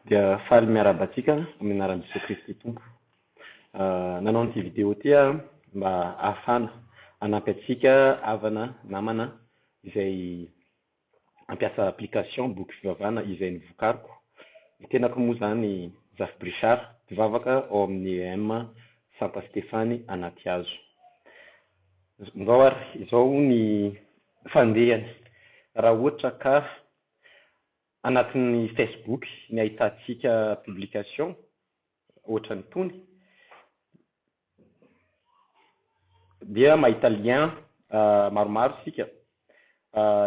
Dia faly miarahaba antsika amin'ny anaran'i Jesoa Kristy Tompo. Nanao an'ity video ity aho mba hahafahana hanampy antsika havana, namana izay mampiasa application boky fivavahana izay novokariko. Ny tenako moa izany Zafy Brichard, mpivavaka ao amin'ny EEM Santa Stefany Anatihazo. Zao ary, izao ny fandehany, raha ohatra ka Anatin'ny Facebook ny ahitantsika publication ohatran'itony dia mahita lien maromaro isika.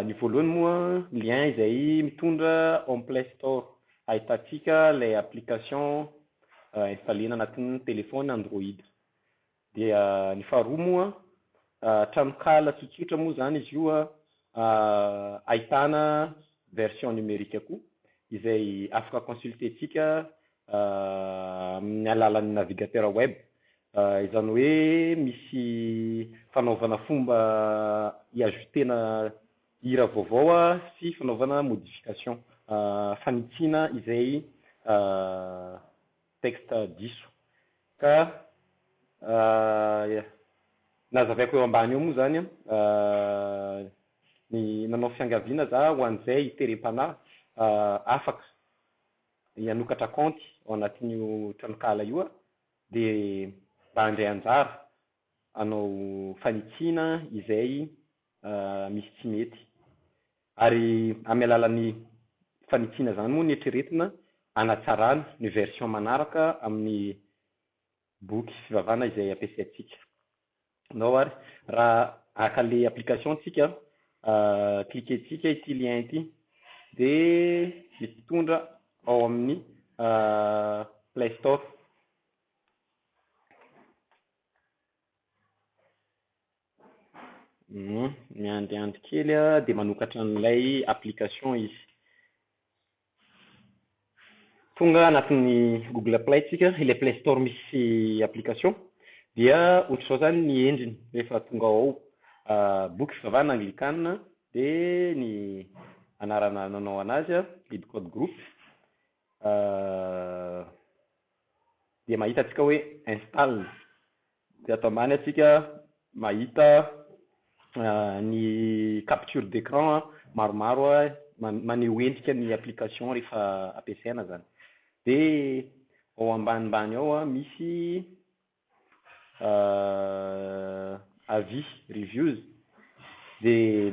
Ny voalohany moa lien izay mitondra ao amin'ny play store ahitantsika ilay application installer-na anatin'ny telephone android. Dia ny faharoa moa, tranonkala tsotsotra moa izany izy io ahitana version numerique koa izay afaka consulter-tsika amin'ny alalan'ny navigateur web. Izany hoe misy fanaovana fomba hi-ajouter-na hira vaovao sy fanaovana modification, fanitsiana izay Texte diso. Ka nazavaiko eo ambany eo moa izany ny nanao fiangaviana za ho an'izay hiterem-panahy afaka hanokatra kaonty ao anatin'io tranonkala io dia mba handray anjara hanao fanitsiana izay misy tsy mety. Ary amin'ny alalan'ny fanitsiana izany moa no eritreretina hanatsarana ny version manaraka amin'ny boky fivavahana izay ampiasaintsika. Nao ary, raha haka ilay application isika, cliquer-tsika ity lien ity, dia mitondra ao amin'ny Play Store. Miandriandry kely a, de manokatra an'ilay application izy. Tonga anatin'ny Google Play tsika, ilay Play Store misy application, dia ohatr'izao zany ny endriny rehefa tonga ao, boky fivavahana anglikana, de ny anarana nanao an'azy a, Libcode Group, dia mahita antsika hoe install. Dia ato ambany antsika mahita ny capture d'écran maromaro maneho endrika ny application rehefa ampiasaina izany. Dia ao ambanimbany ao misy avis, reviews. Dia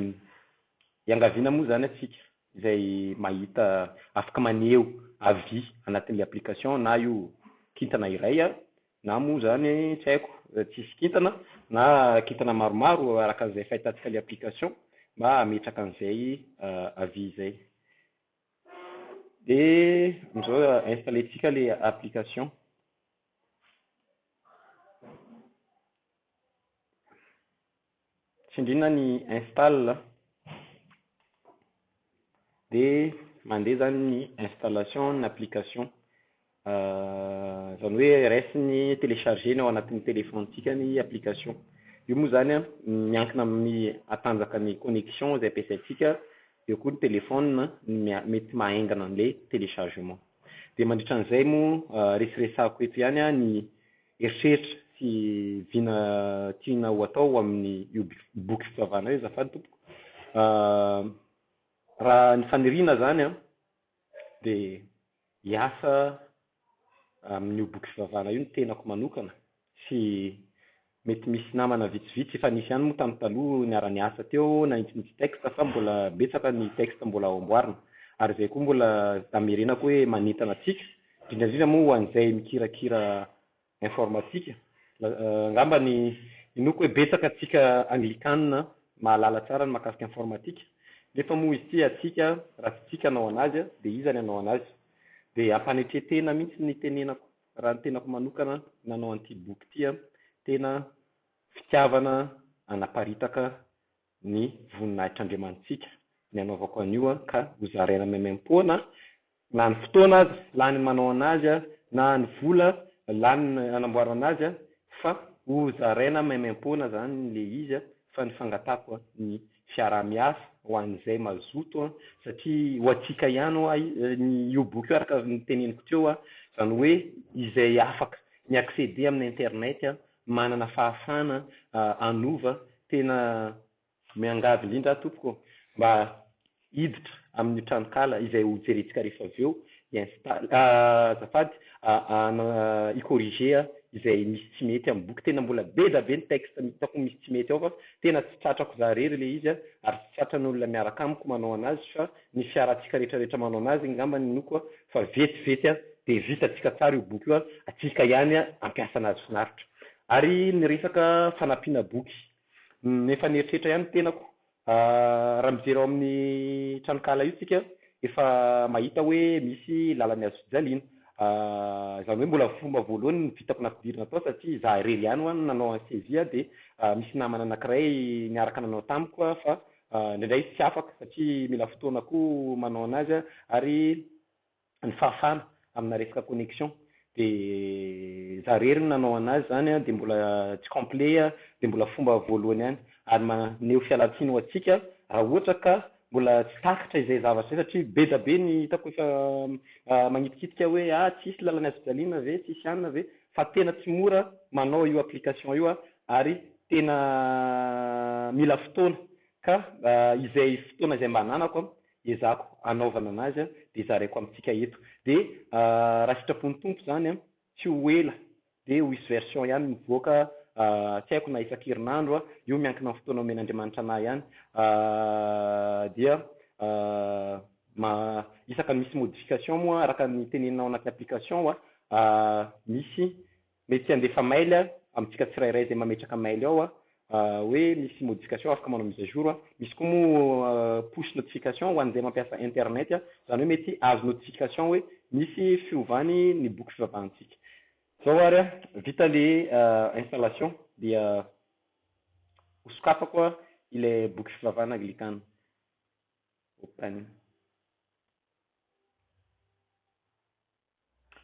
iangaviana moa izany antsika izay mahita afaka maneho avis anatin'ilay application na io kintana iray Na moa izany tsy haiko tsy hisy kintana na kintana maromaro araka an'izay fahitantsika ilay application mba hametraka an'izay avis izay. Dia amin'izao installer-tsika ilay application. tsindriana ny install dia mandeha izany ny installation ny application izany hoe raisiny telechargena ao anatin'ny telefaonitsika ny application io moa izany an miankina amin'ny hatanjaka ny connexion izay ampiasaintsika eo koa ny telefaonina no mety mahaengana an'ilay telechargement dia mandritra an'izay moa reseresahako eto ihany an ny eritreritra sy vina tiana ho atao amin io boky fivavahana io azafady tompoko raha ny faniriana zany an de hiasa amin io boky fivavahana io ny tenako manokana sy mety misy namana vitsivitsy efa nisy ihany moa tam taloha niara niasa teo nanintsinintsy texte fa mbola betsaka ny texte mbola ho amboarina ary zay koa mbola amerenako hoe manentana antsika Indrindra indrindra moa ho an'izay mikirakira informatika. Angamba ny inoako hoe betsaka antsika Anglikana mahalala tsara ny mahakasika informatika, nefa moa izy ity antsika raha tsy tsika hanao an'azy dia iza ny hanao an'azy? Dia ampanetren-tena mihitsy ny itenenako raha ny tenako manokana nanao an'ity boky ity, tena fitiavana hanaparitaka ny voninahitr'Andriamanitsika ny hanaovako an'io ka hozaraina maimaim-poana na ny fotoana aza lany manao an'azy na ny vola lany hanamboarana azy fa hozaraina maimaim-poana izany ilay izy fa ny fangatahako ny fiaraha-miasa ho an'izay mazoto satria ho antsika ihany ho'a io boky io araka ny teneniko teo izany hoe izay afaka mi-accéder amin'ny internet manana fahafahana hanova tena miangavy indrindra aho tompoko mba hiditra amin'io tranonkala izay ho jerentsika rehefa avy eo hi-install azafady hi corriger izay misy tsy mety amin'ny boky tena mbola be da be ny texte hitako misy tsy mety ao fa tena tsy tratrako za rery ilay izy ary tsy tratran'olona miaraka amiko manao anazy fa ny fiarantsika rehetra rehetra manao anazy ngamba ny noko a, fa vety vety a dia vitantsika tsara io boky io a, atsika ihany a hampiasa anazy finaritra. Ary ny resaka fanampiana boky, efa nieritreritra ihany ny tenako a, raha mijery ao amin'ny tranonkala io tsika efa mahita hoe misy lalany azo fijaliana a, izany hoe mbola fomba voalohany ny vitako nampidirina tao satria za irery ihany ho'a no nanao an'i saisie a dia misy namana anakiray niaraka nanao tamiko a fa Indraindray izy tsy afaka satria mila fotoana koa manao anazy a, ary ny fahafahana amina resaka connexion de za rery no nanao anazy zany a de mbola tsy complet a, de mbola fomba voalohany ihany ary maneho fialantsiny ho antsika raha ohatra ka mbola tsy takatra izay zavatra izay satria be da be ny hitako efa magnitikitika hoe ah tsisy lalana azo jaliana ve tsisy anona ve fa tena tsy mora manao io application io a ary tena mila fotoana ka izay fotoana izay mba ananako an, ezahako hanaovana anazy an, dia zaraiko amintsika eto. Dia raha sitrapon'ny Tompo izany an, tsy ho ela dia ho hisy version ihany mivoaka, tsy haiko na isan-kerinandro an, io miankina amin'ny fotoana omen'Andriamanitra anah ihany, dia isaka misy modification moa araka ny tenenina ao anaty application an, misy Mety handefa mail amintsika tsirairay izay mametraka mail ao hoe misy modification afaka manao mise à jour, misy koa moa push notification ho an'izay mampiasa internet izany hoe mety hahazo notification hoe misy fiovany ny boky fivavahantsika. Zao ary vita le installation dia ho sokafako ilay boky fivavahana anglikana open.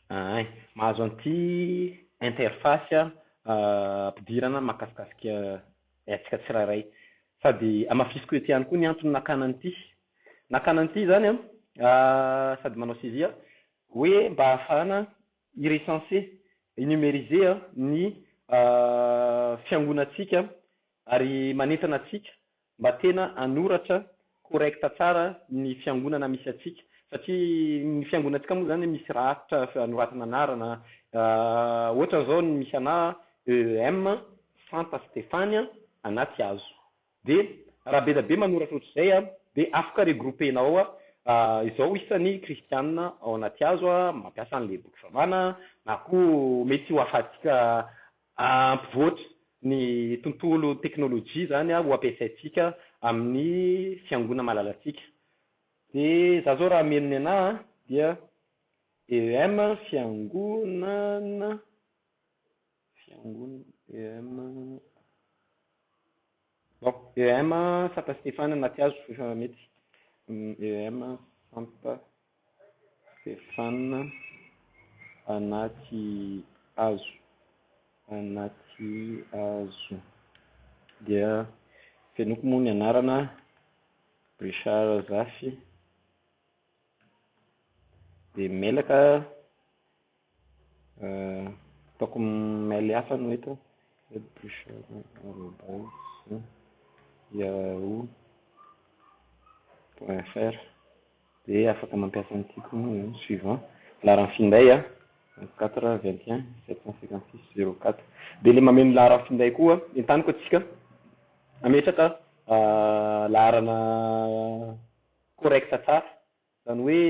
Ahay, mahazo an'ity interface ampidirana mahakasikasika antsika tsirairay. Sady hamafisiko eto ihany koa ny antony nakana an'ity. Nakana an'ity izany an, sady manao CV aho, hoe mba hahafahana hi-recenser, hi-numériser ny fiangonantsika ary manentana antsika Mba tena anoratra correct tsara ny fiangonana misy antsika satria ny fiangonantsika moa zany misy rafitra anoratana anarana ohatra zao ny misy anah EEM Santa Stefania Anatihazo de raha be da be manoratra ohatr'izay a de afaka regrouper-na ao a izao isany kristianina ao Anatihazo a mampiasa an'le boky vavana na koa mety ho afahantsika Hampivoatra ny tontolo teknolojia izany ho ampiasaintsika amin'ny fiangonana malalantsika. Dia izaho izao raha hameno ny anà dia EEM fiangonana, fiangonana EEM. Bon EM a sata Stefana na tsy azo efa mety EM a santa Stefana na tsy azo na tsy azo dia fenoiko moa ny anarana Richard Zafy dia mailaka Ataoko mail hafa no eto a, edbouchard@yahoo.fr dia afaka mampiasa ny tiako ny suivant, laharan'ny finday a, vingt quatre vingt et un sept cent cinquante six zero quatre, dia ilay mameno ny laharan'ny finday koa entaniko antsika hametraka laharana correct tsara, izany hoe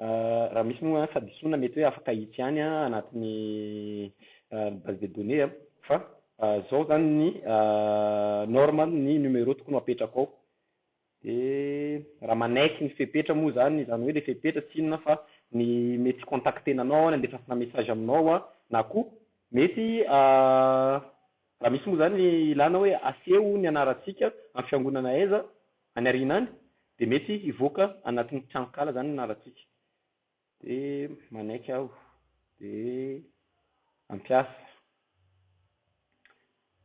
Raha misy moa fadisoana mety hoe afaka hitsy ihany anatin'ny base de données an, fa zao zany ny norme ny numéro tokony ho apetrako ao, de raha manaiky ny fepetra moa zany, zany hoe le fepetra tsy inona fa ny mety hicontactena anao aho, ny handefasana message aminao aho, na koa mety raha misy moa zany ilana hoe aseho ny anarantsika amin'ny fiangonana aiza, Any aoriana any dia mety hivoaka anatin'ny tranonkala izany ny nalantsika. Dia manaiky aho, dia hampiasa.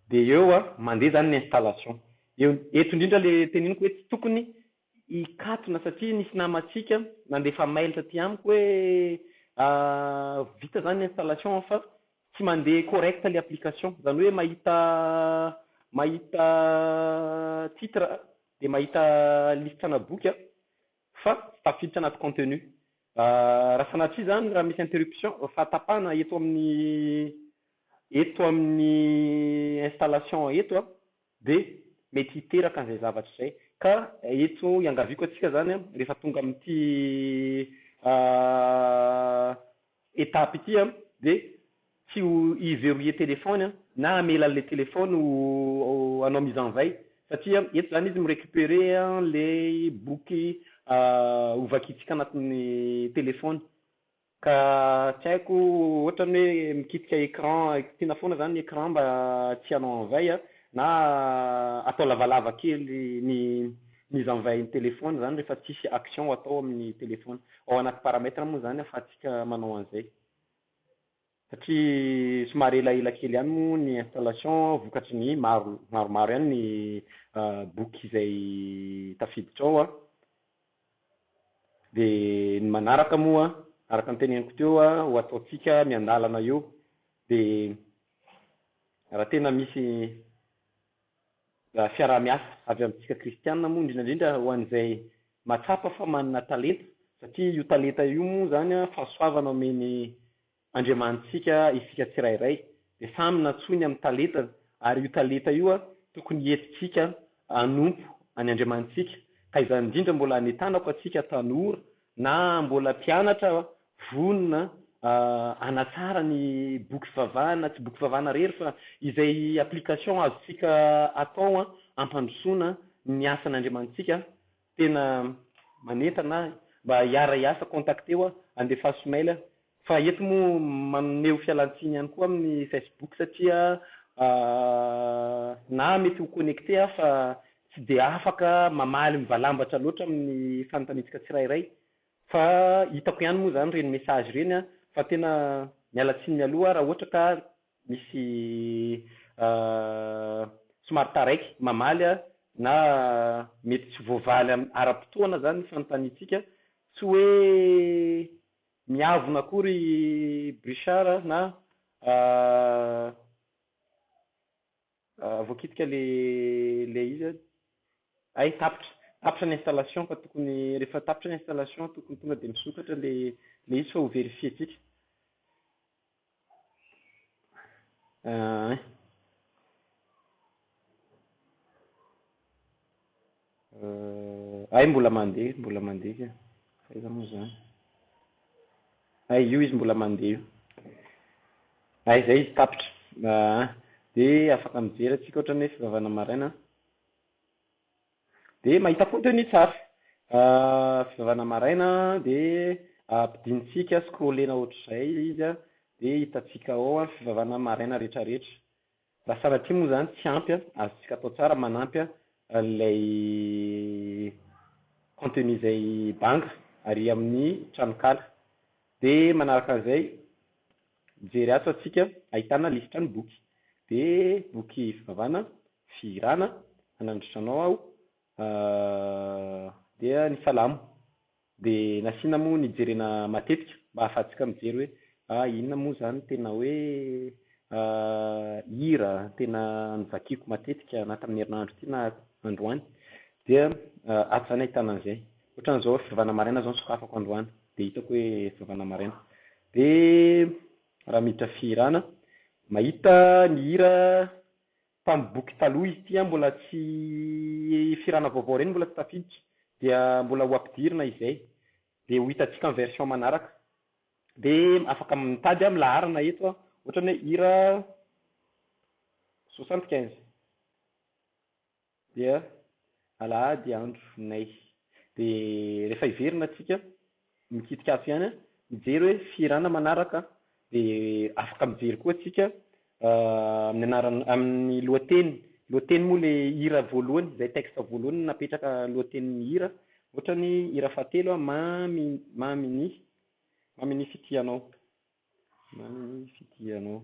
Dia eo a, mandeha izany ny installation. Eo, eto indrindra ilay teniniko hoe tsy tokony hikatona satria nisy namantsika nandefa mail taty amiko hoe vita izany ny installation fa tsy mandeha correct le application izany hoe mahita mahita titre aho dia mahita lisitra ana boky aho fa tsy tafiditra anaty contenu raha sanatria izany raha misy interruption fa tapahana eto amin'ny eto amin'ny installation eto aho dia mety hiteraka an'izay zavatra izay ka eto iangaviako antsika izany rehefa tonga amin'ity étape ity an, dia tsy ho i verrouiller téléphone an, na hamela an'ilay téléphone ho hanao mise en veille, satria eto izany izy mi-récupérer an'ilay boky ho vakintsika anatin'ny téléphone, ka tsy haiko ohatrany hoe mikitika écran, kitiana foana izany ny écran mba tsy hanao en veille, na atao lavalava kely ny. Mise en veille ny téléphone zany rehefa tsisy action atao amin'ny téléphone. Ao anaty paramètre moa zany afahantsika manao an'izay. Satria somary elaela kely ihany moa ny installation vokatry ny maro maromaro ihany ny boky izay tafiditra ao an. De ny manaraka moa araka ny teneniko teo ho ataontsika miandalana eo de raha tena misy fiaraha-miasa avy amintsika kristiana moa indrindra indrindra ho an'izay mahatsapa fa manana talenta satria io talenta io moa izany an fahasoavana omen'i Andriamanitsika isika tsirairay dia samy nantsoiny amin'ny talentany ary io talenta io an tokony hientintsika hanompo an'i Andriamanitsika ka izany indrindra mbola anetanako antsika tanora na mbola mpianatra Vonona hanatsara ny boky fivavahana, tsy boky fivavahana irery fa izay application azontsika atao hampandrosoana ny asan'Andriamanitsika, tena manentana ahy mba hiara-hiasa, contacteo aho, andefaso mail, fa eto moa maneho fialantsiny ihany koa amin'ny Facebook satria na mety ho connecté aho fa tsy dia afaka mamaly mivalambatra loatra amin'ny fanontaniantsika tsirairay, Fa hitako ihany moa zany ireny message ireny an, fa tena miala tsiny mialoha raha ohatra ka misy somary taraiky mamaly an, na mety tsy voavaly ara-potoana zany ny fanontaniantsika, tsy hoe miavona akory i Brichard na. Voakitika le le izy a. Hay tapitra tapitra ny installation fa tokony rehefa tapitra ny installation tokony tonga dia misokatra le le izy fa ho verifientsika. Hay. Euh, ay mbola mandeha, mbola mandeha ka. Fa aiza moa zany? Ay io izy mbola mandeha io. Ay zay izy tapitra. Ah, de afaka mijery atsika ohatran'ny hoe fivavahana maraina. De mahita koa teo ny tsara. Ah, fivavahana maraina de ampidintsika scrollena ohatr'izay izy a, de hitantsika ao a, fivavahana maraina retraretra. Raha sanatria moa izany tsy ampy an, azontsika atao tsara manampy an ilay contenu izay banga ary amin'ny tranonkala. Dia manaraka an'izay, mijery ato antsika ahitana lisitra ny boky. Dia boky fivavahana, fihirana, hanandritra anao aho, dia ny salamo. De nasiana moa nijerena matetika mba ahafahantsika mijery hoe ah inona moa zany tena hoe ah hira tena novakiako matetika na tamin'ny herinandro ity na androany dia ato zany ahitana an'izay ohatrany zao fivavahana maraina zao nosokafako androany de hitako hoe fivavahana maraina de raha miditra fihirana mahita ny hira Tamin'ny boky taloha izy ity an mbola tsy hifirana vaovao ireny mbola tsy tafiditra dia mbola ho ampidirina izay dia ho hitantsika amin'ny version manaraka dia afaka mitady amin'ny laharana eto an ohatra ny hoe hira soixante quinze dia alahady andro nay dia rehefa hiverina tsika Mikitika ato ihany mijery hoe fihirana manaraka dia afaka mijery koa tsika amin'ny anarana amin'ny lohateny lohateny moa le hira voalohany izay texte voalohany napetraka lohatenin'ny hira ohatra ny hira fahatelo a Mamy Mamy ny Mamy ny fitia anao Maninona moa ny fidianao?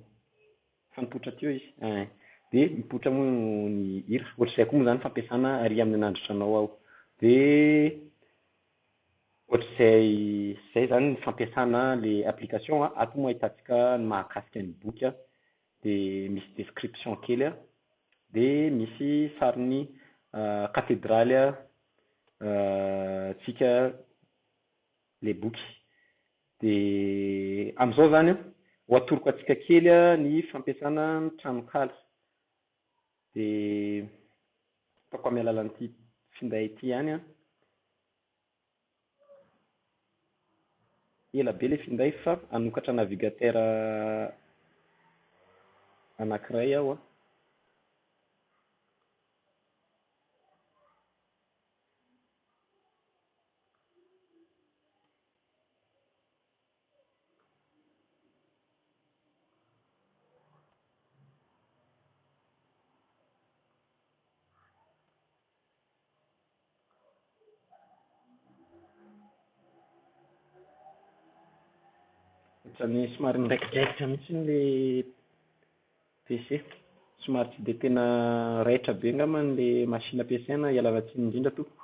Efa nipoitra teo izy eh. Dia mipoitra moa ny hira. Ohatr'izay koa moa izany fampiasana ary amin'ny nandritra anao aho. Dia ohatr'izay izay izany ny fampiasana ilay application an, ato moa ahitantsika ny mahakasika ny boky an, dia misy description kely an, dia misy sarin'ny katedraly an, tsika. ilay boky. Dia amin'izao izany an, ho atoroko antsika kely ny fampiasana ny tranonkala. Dia ataoko amin'ny alalan'ity finday ity ihany an. Ela be ilay finday fa hanokatra navigateur anankiray aho an. Ohatran'ny somary niraikidraikitra mihitsy ilay PC. Somary tsy dia tena raitra be angamba ilay machine ampiasaina, ialana tsiny indrindra tompoko.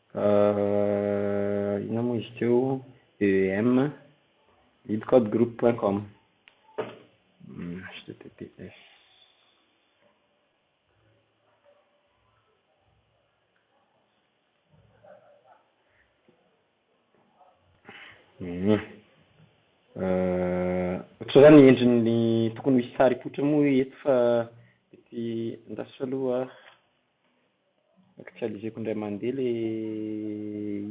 Ahh inona moa izy teo EEM leadcodegroup point com https Hum. Ohatr'izao zany ny endriny tokony ho hisy sary hipoitra moa eto fa ety an-dasitra aloha. Actualiseko indray mandeha ilay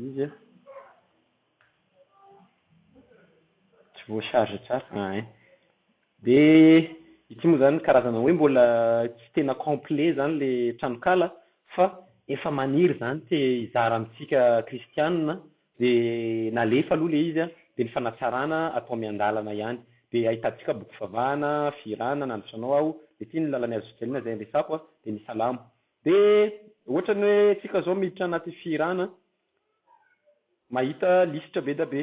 izy an. Tsy voa-charge tsara. Ah eh. Dia ity moa izany karazana hoe mbola tsy tena complet izany ilay tranonkala fa efa maniry izany te hizara amintsika kristiana. Dia nalefa aloha ilay izy dia ny fanatsarana atao miandalana ihany. Dia ahitantsika boky fivavahana, fihirana, nandroso anao aho, dia ity ny lalan'i Azozeliana izay andresako, dia ny salamo. Dia ohatran'ny hoe tsika izao miditra anaty fihirana, mahita lisitra be dia be,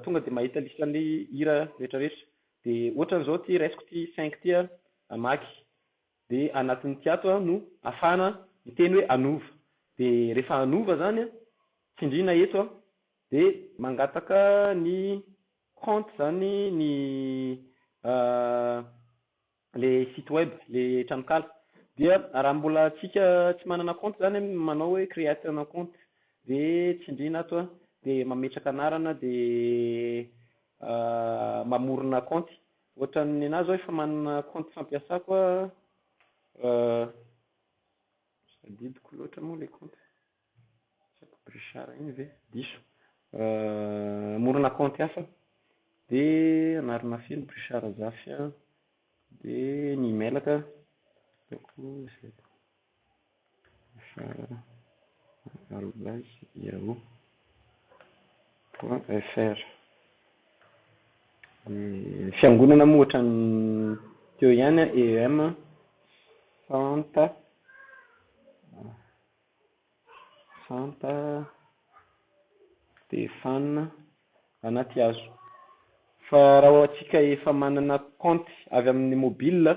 tonga dia mahita lisitran'ilay hira rehetrarehetra. Dia ohatran'izao ity raisiko ity cinq ity hamaky. dia anatin'ny kiato aho no afahana miteny hoe anova dia rehefa anova zany tsindrina eto aho dia mangataka ny compte zany ny le site web le tranokala dia raha mbola antsika tsy manana compte zany an manao hoe create un compte dia tsindrina ato an dia mametraka anarana dia mamorona compte Ohatran'ny nenazy aho efa manana kaonty fampiasako aho fa tsy tadidiko loatra moa ilay kaonty. Sa Brichard iny ve? Diso. Hamorona kaonty hafa aho dia anarana feno Brichard Zafy dia ny emailaka ataoko izay. Fr arobase yahoo point fr Ny fiangonana moa ohatran'ny teo ihany an, EEM, Santa, Santa Stefana Anatihazo. Fa raha hoantsika efa manana compte avy amin'ny mobile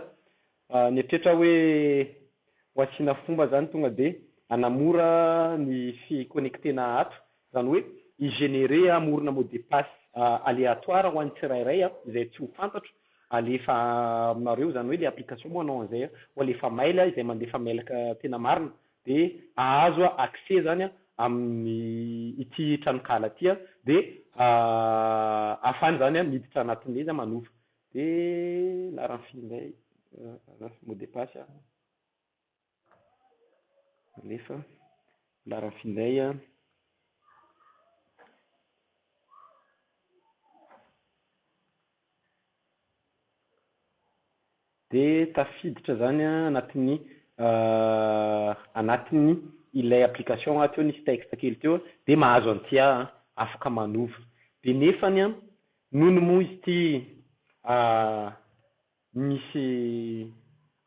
Raha ny eritreritra hoe ho asiana fomba izany tonga dia hanamora ny fi-connecter-na ato, izany hoe hi-generer, hamorona mot de passe aléatoire ho an'ny tsirairay izay tsy ho fantatro, halefa aminareo, izany hoe ilay application moa hanao an'izay, ho alefa mail, izay mandefa mail tena marina dia hahazo accès izany amin'ny ity tranonkala ity dia ahafahany izany miditra anatin'ilay izy manofa. Dia naranfy indray mot de passe an. Alefa. Naranfy indray an. Dia tafiditra izany an anatin'ny anatin'ny ilay application aho teo nisy texte kely teo dia mahazo an'ity aho an, afaka manova. Dia nefany an, Nony moa ity misy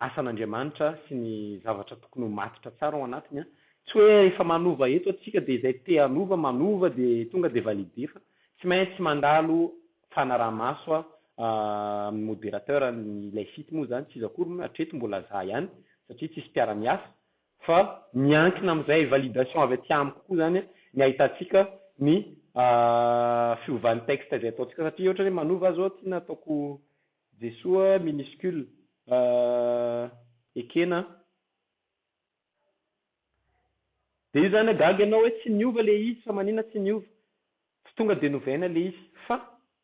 asan'Andriamanitra sy ny zavatra tokony ho matotra tsara ao anatiny, tsy hoe efa manova eto atsika dia izay te hanova manova dia tonga dia valide fa tsy maintsy mandalo fanaraha-maso amin'ny moderateur, ny ilay site moa izany tsy iza akory moa hatreto mbola za ihany satria tsisy mpiara-miasa fa miankina amin'izay validation avy aty amiko koa izany ny ahitantsika ny fiovan'ny texte izay ataontsika satria ohatra hoe manova zao aty na ataoko Jesoa minuscule ekena a, dia io izany hagaga ianao hoe tsy niova ilay izy fa maninona tsy niova, tsy tonga dia novaina ilay izy fa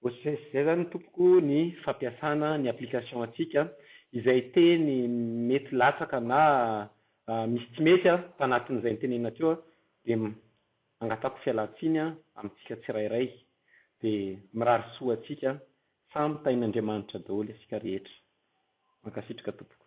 Ohatrin'izay sy izay izany tompoko ny fampiasana ny application antsika, izay teny mety latsaka na misy tsy mety tanatin'izay notenenina teo dia angatahako fialantsiny amintsika tsirairay dia mirary soa antsika samy tahin'Andriamanitra daholo isika rehetra. Mankasitraka tompoko.